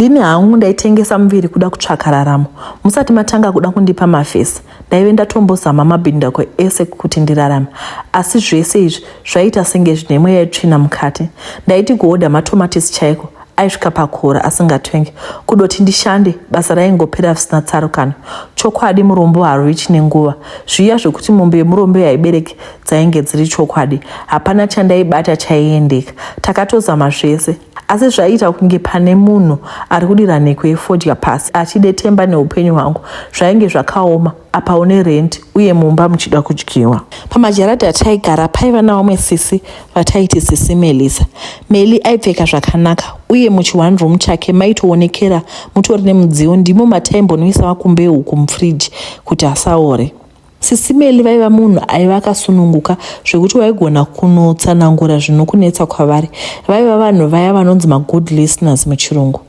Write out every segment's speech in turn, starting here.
Ndini hangu ndaitengesa muviri kuda kutsvaka raramo. Musati matanga kuda kundipa mafesi, ndaive ndatombozama mabhindako ese kuti ndirarame. Asi zvese izvi zvaiita senge zvine mweya yetsvina mukati. Ndaiti kuhodha matomatisi chaiko aisvika pakora asingatenge. Kudoti ndishande, basa raingopera zvisina tsarukano. Chokwadi murombo harwi chine nguva. Zviya zvekuti mombe yemurombo yaibereke dzainge dziri chokwadi. Hapana chandaibata chaiendeka. Takatozama zvese, asi zvaiita kunge pane munhu ari kudira nheko yefodya pasi achidetemba neupenyu hwangu zvainge zvakaoma apa une rendi uye mumba muchida kudyiwa pamajaradi ataigara paiva navamwe sisi vataiti sisi melisa meli aipfeka zvakanaka uye muchione room chake maitoonekera mutori nemudziyo ndimo mataimbonwisa makumbe huku mufriji kuti asaore Sisi Meli vaiva munhu aiva akasununguka zvekuti waigona kunotsanangura zvinokunetsa kwavari. Vaiva vanhu vaya vanonzi magood listeners muchirungu.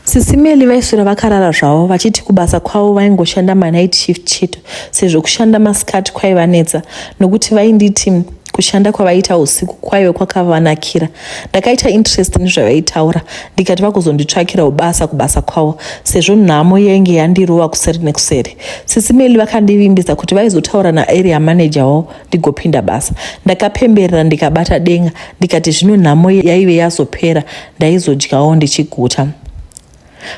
Sisi Meli vaiswera vakarara zvavo vachiti kubasa kwavo vaingoshanda manight shift chete sezvo kushanda masikati kwaivanetsa nokuti vainditi kushanda kwavaiita usiku kwaive kwakavanakira ndakaita interest nezvavaitaura ndikati vakuzonditsvakirawo basa kubasa kwavo sezvo nhamo yenge yandirova kuseri nekuseri sisi meli vakandivimbisa kuti vaizotaura naarea manager wavo ndigopinda basa ndakapemberera ndikabata denga ndikati zvino nhamo yaive yazopera ndaizodyawo ndichiguta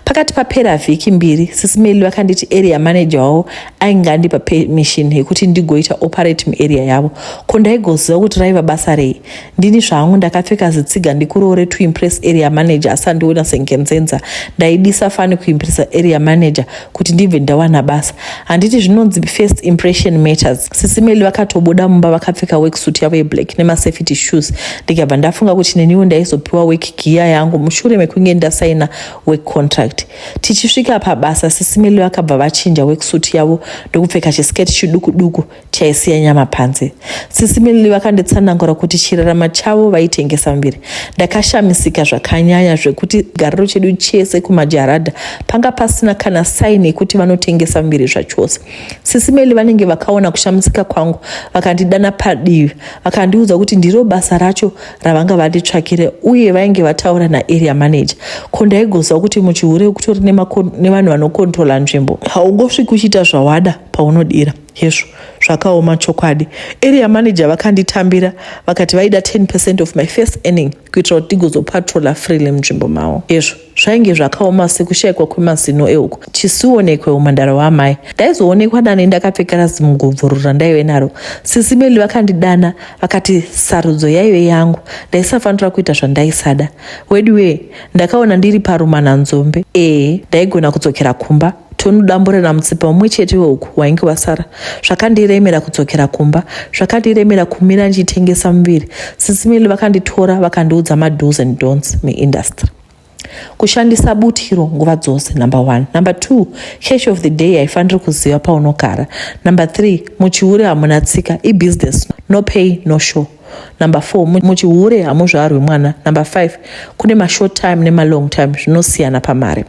Pakati papera vhiki mbiri, sisi Melly vakanditi area manager wavo ainge andipa permission yekuti ndigoita operate muarea yavo. Ko ndaigoziva kuti raiva basa rei? Ndini zvangu ndakapfeka zitsiga ndikuroore to impress area manager asandiona sengenzenza. Ndaidisa fani kuimpressa area manager kuti ndibve ndawana basa handiti zvinonzi first impression matters sisimeli vakatobuda mumba vakapfeka worksuit yavo yeblack nemasafety shoes ndikabva ndafunga kuti neniwo ndaizopiwa work giya yangu mushure mekunge ndasaina work contract tichisvika pabasa sisimeli vakabva vachinja worksuit yavo ndokupfeka chisketi chiduku duku Taisiya nyama panze. Sisi Milly vakanditsanangura kuti chirarama chavo vaitengesa muviri. Ndakashamisika zvakanyanya zvekuti gariro chedu chese kumajaradha panga pasina kana saini yekuti vanotengesa muviri zvachose. Sisi Milly vanenge vakaona kushamisika kwangu vakandidana padivi vakandiudza kuti ndiro basa racho ravanga vanditsvakire uye vainge vataura naarea manager. Ko ndaigoziva kuti muchihure kutori nevanhu vanokontrola nzvimbo. Haungosviki uchiita zvawada paunodira. Hezvo zvakaoma chokwadi. Area manager vakanditambira vakati vaida 10 percent of my first earning kuitira kuti ndigozopatrola freely munzvimbo mavo. Hezvo zvainge zvakaoma sekushaikwa kwemazino euku chisionekwe umhandara hwaamai ndaizoonekwa nani ndakapfeka razimugumvururu randaive naro sisi meli vakandidana vakati sarudzo yaive yangu ndaisafanira kuita zvandaisada weduwee ndakaona ndiri parumananzombe ee ndaigona kudzokera kumba tonodambura namutsipa umwe chete weuku wainge wasara zvakandiremera kudzokera kumba zvakandiremera kumira ndichitengesa muviri sisimili vakanditora vakandiudza mados and dons muindustry kushandisa butiro nguva dzose number one number two cash of the day haifaniri kuziva paunogara number three muchihure hamuna tsika ibusiness no pay no show number four muchihure hamuzvarwi mwana number five kune mashort time nemalong time zvinosiyana pamari no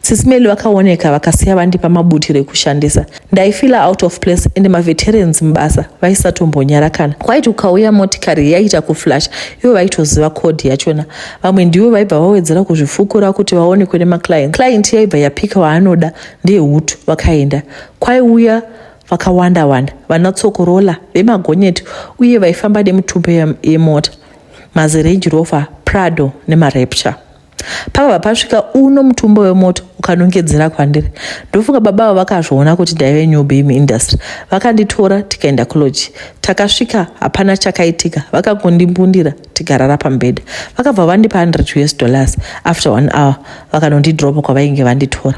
Sisi Melly vakaoneka vakasiya vandipa mabutiro ekushandisa. Ndaifila out of place and maveterans mubasa vaisatombonyara kana. Kwaiti ukauya motikari yaiita kuflash ivo vaitoziva code yachona. Vamwe ndivo vaibva vawedzera kuzvifukura kuti vaonekwe nemaclient. Client yaibva yapika waanoda ndiye hutu vakaenda. Kwaiuya vakawanda wanda vana tsokorola vemagonyeti uye vaifamba nemutumbe yemota mazirange rover prado nemarepture pakabva pasvika uno mutumbo wemoto ukanongedzera kwandiri ndofunga baba avo vakazviona kuti ndaive new bame industry vakanditora tikaenda kuloji takasvika hapana chakaitika vakangondimbundira tikarara pambeda vakabva vandipa 100 us dollars after one hour vakanondidropa kwavainge vanditora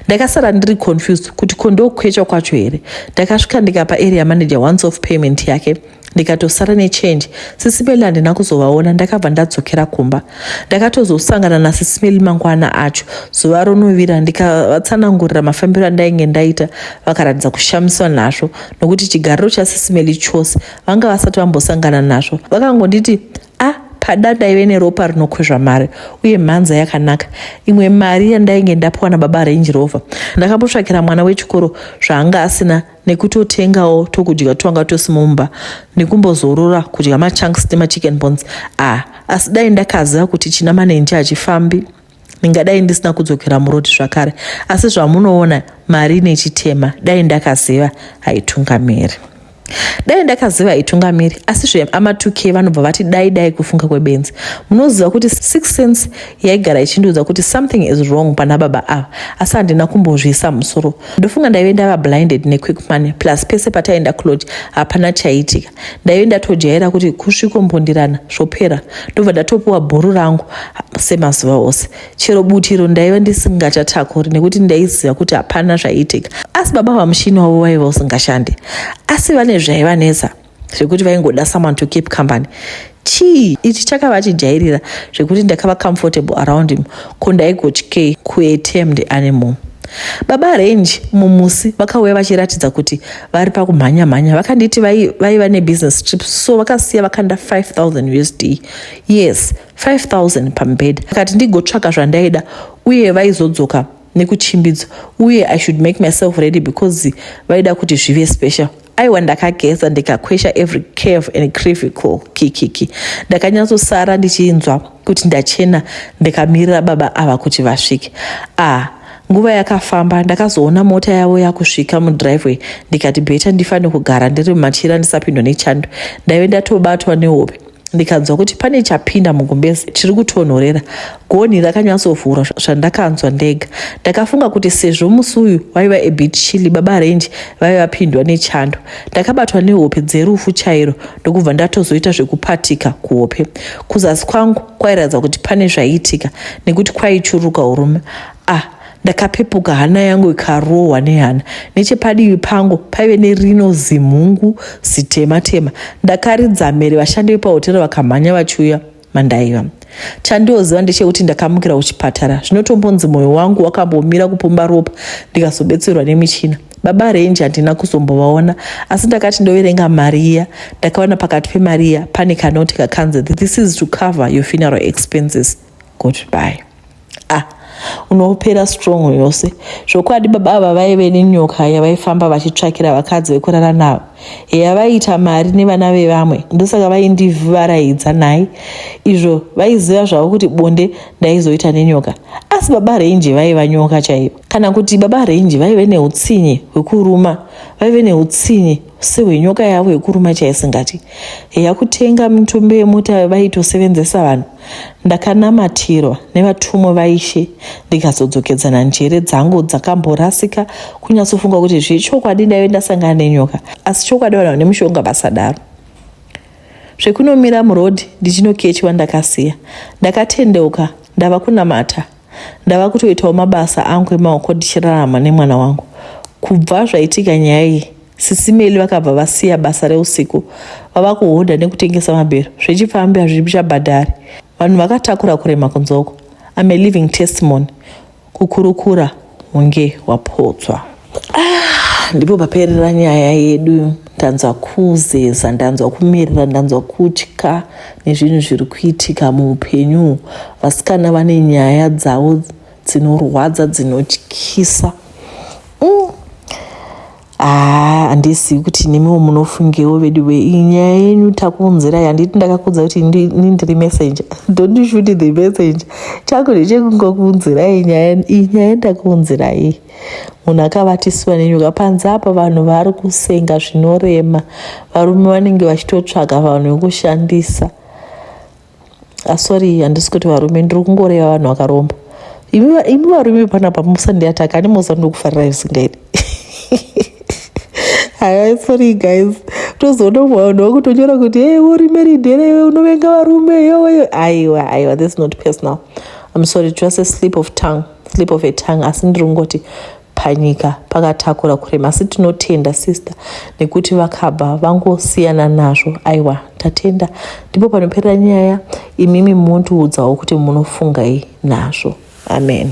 ndakasara ndiri confused kuti kondokwecha kwacho here ndakasvika ndikapa area manager once of payment yake ndikatosara nechange sisimeli handina kuzovaona ndakabva ndadzokera kumba ndakatozosangana nasisimeli mangwana acho zuva ronovira ndikavatsanangurira mafambiro andainge ndaita vakaratidza kushamiswa nazvo nokuti chigariro chasisimeli chose vanga vasati vambosangana nazvo vakangonditi a ah, pada ndaive neropa rinokwezva mari uye mhanza yakanaka imwe mari yandainge ndapiwa nababa range rover ndakambotsvakira mwana wechikoro zvaanga asina nekutotengawo tokudya twanga tosi mumba nekumbozorora kudya machunks nemachicken bones ah asi dai ndakaziva kuti china manenji hachifambi ndingadai ndisina kudzokera murodi zvakare asi zvamunoona mari nechitema dai ndakaziva haitungamiri dai ndakaziva haitungamiri asi zveamatuke vanobva vati dai dai kufunga kwebenzi munoziva kuti six cents yaigara ichindiudza kuti something is wrong pana baba ava asi handina kumbozviisa musoro ndofunga ndaive ndava blinded nequick money plus pese pataienda kulodge hapana chaiitika ndaive ndatojaira kuti kusvikombondirana zvopera ndobva ndatopiwa bhuru rangu semazuva ose chero butiro ndaiva ndisingachatakuri nekuti ndaiziva kuti hapana zvaiitika asi baba vamushini wavo vaiva usingashande asi vane zvaivanetsa zvekuti vaingoda someone to keep company chii ichi chakava chijairira zvekuti ndakava comfortable around him ko ndaigotyei kuatemed animal baba range mumusi vakauya vachiratidza kuti vari pakumhanya mhanya vakanditi vaiva nebusiness trip so vakasiya vakanda 5000 usd yes 5000 pambed vakati ndigotsvaka zvandaida uye vaizodzoka nekuchimbidzo uye i should make myself ready because vaida kuti zvive special aiwa ndakageza ndikakwesha every cave and crivical kikiki ndakanyatsosara ndichinzwa kuti ndachena ndikamirira baba ava kuti vasvike ah nguva yakafamba ndakazoona mota yavo yakusvika mudriveway ndikati beta ndifane kugara ndiri mumachira ndisapindwa nechando ndaive ndatobatwa nehope ndikanzwa kuti pane chapinda mugumbezi chiri kutonhorera gonhi rakanyatsovhurwa zvandakanzwa ndega ndakafunga kuti sezvo musi uyu waiva ebit chili baba renji vaive vapindwa nechando ndakabatwa nehope dzerufu chairo ndokubva ndatozoita zvekupatika kuhope kuzasi kwangu kwairatidza kuti pane zvaiitika nekuti kwaichuruka urume ah Ndakapepuka hana yangu ikarohwa nehana. Nechepadivi pangu paive nerino zimhungu zitema tema. Ndakaridza mhere vashandi vepahotera vakamhanya vachiuya mandaiva. Chandioziva ndechekuti ndakamukira kuchipatara. Zvinotombonzi moyo wangu wakambomira kupomba ropa ndikazobetserwa nemichina. Baba Renji handina kuzombovaona asi ndakati ndoverenga mari iya ndakaona pakati pemari iya pane kanoti kakanzi this is to cover your funeral expenses. Goodbye. ah unopera strong yose zvokwadi baba ava vaive nenyoka yavaifamba vachitsvakira vakadzi vekurara navo heya vaiita mari nevana vevamwe ndosaka vaindivaraidza nhai izvo vaiziva zvavo kuti bonde ndaizoita nenyoka asi baba renji vaiva nyoka chaivo kana kuti baba renji vaive neutsinye hwekuruma vaive neutsinye sehwe nyoka yavo yekuruma chaisingati yakutenga mitumbi yemota vaitosevenzesa vanhu ndakanamatirwa nevatumwa vaishe ndikazodzokedzana njere dzangu dzakamborasika kunyatsofunga kuti zvechokwadi ndaive ndasangana nenyoka asi chokwadi vanhu vane mushonga basadaro zvekunomira murodhi ndichinokechwa ndakasiya ndakatendeuka ndava kunamata ndava kutoitawo mabasa angu emaoko ndichirarama nemwana wangu kubva zvaitika nyaya iyi sisimeli vakabva vasiya basa reusiku vava kuhodha nekutengesa mabhero zvechipfambi hazvipi chabhadhari vanhu vakatakura kurema kunzoko am a living testimony kukurukura hunge wapotswa Ah, ndipo paperera nyaya yedu ndanzwa kuzeza ndanzwa kumerera ndanzwa kutya nezvinhu zviri kuitika muupenyu vasikana vane nyaya dzavo dzinorwadza dzinotyisa mm. ah, handizivi mm. kuti nemiwo munofungewo vedu ve nyaya yenyu takuunzira yanditi ndakakudza kuti ini ndiri messenger don't shoot the messenger chako ndechekungokuunzirai nyaya iyi nyaya ndakuunzirai munhu akabatisiwa nenyoka panze apa vanhu vari kusenga zvinorema varume vanenge vachitotsvaga vanhu vekushandisa asori ah, handisi kuti varume ndiri kungoreva vanhu vakaromba imi varume panapa musandiataka ani mosa ndokufarira isingaidi haya sorry guys tozoona umwe vanhu vakutonyora kuti hey uri meridere iwe unovenga varume yoweyo aiwa aiwa this not personal i'm sorry just a slip of tongue slip of a tongue asi ndiri kungoti panyika pakatakura kurema asi tinotenda sister nekuti vakabva vangosiyana nazvo aiwa tatenda ndipo panoperera nyaya imimi muntiudzawo kuti munofungai nazvo amen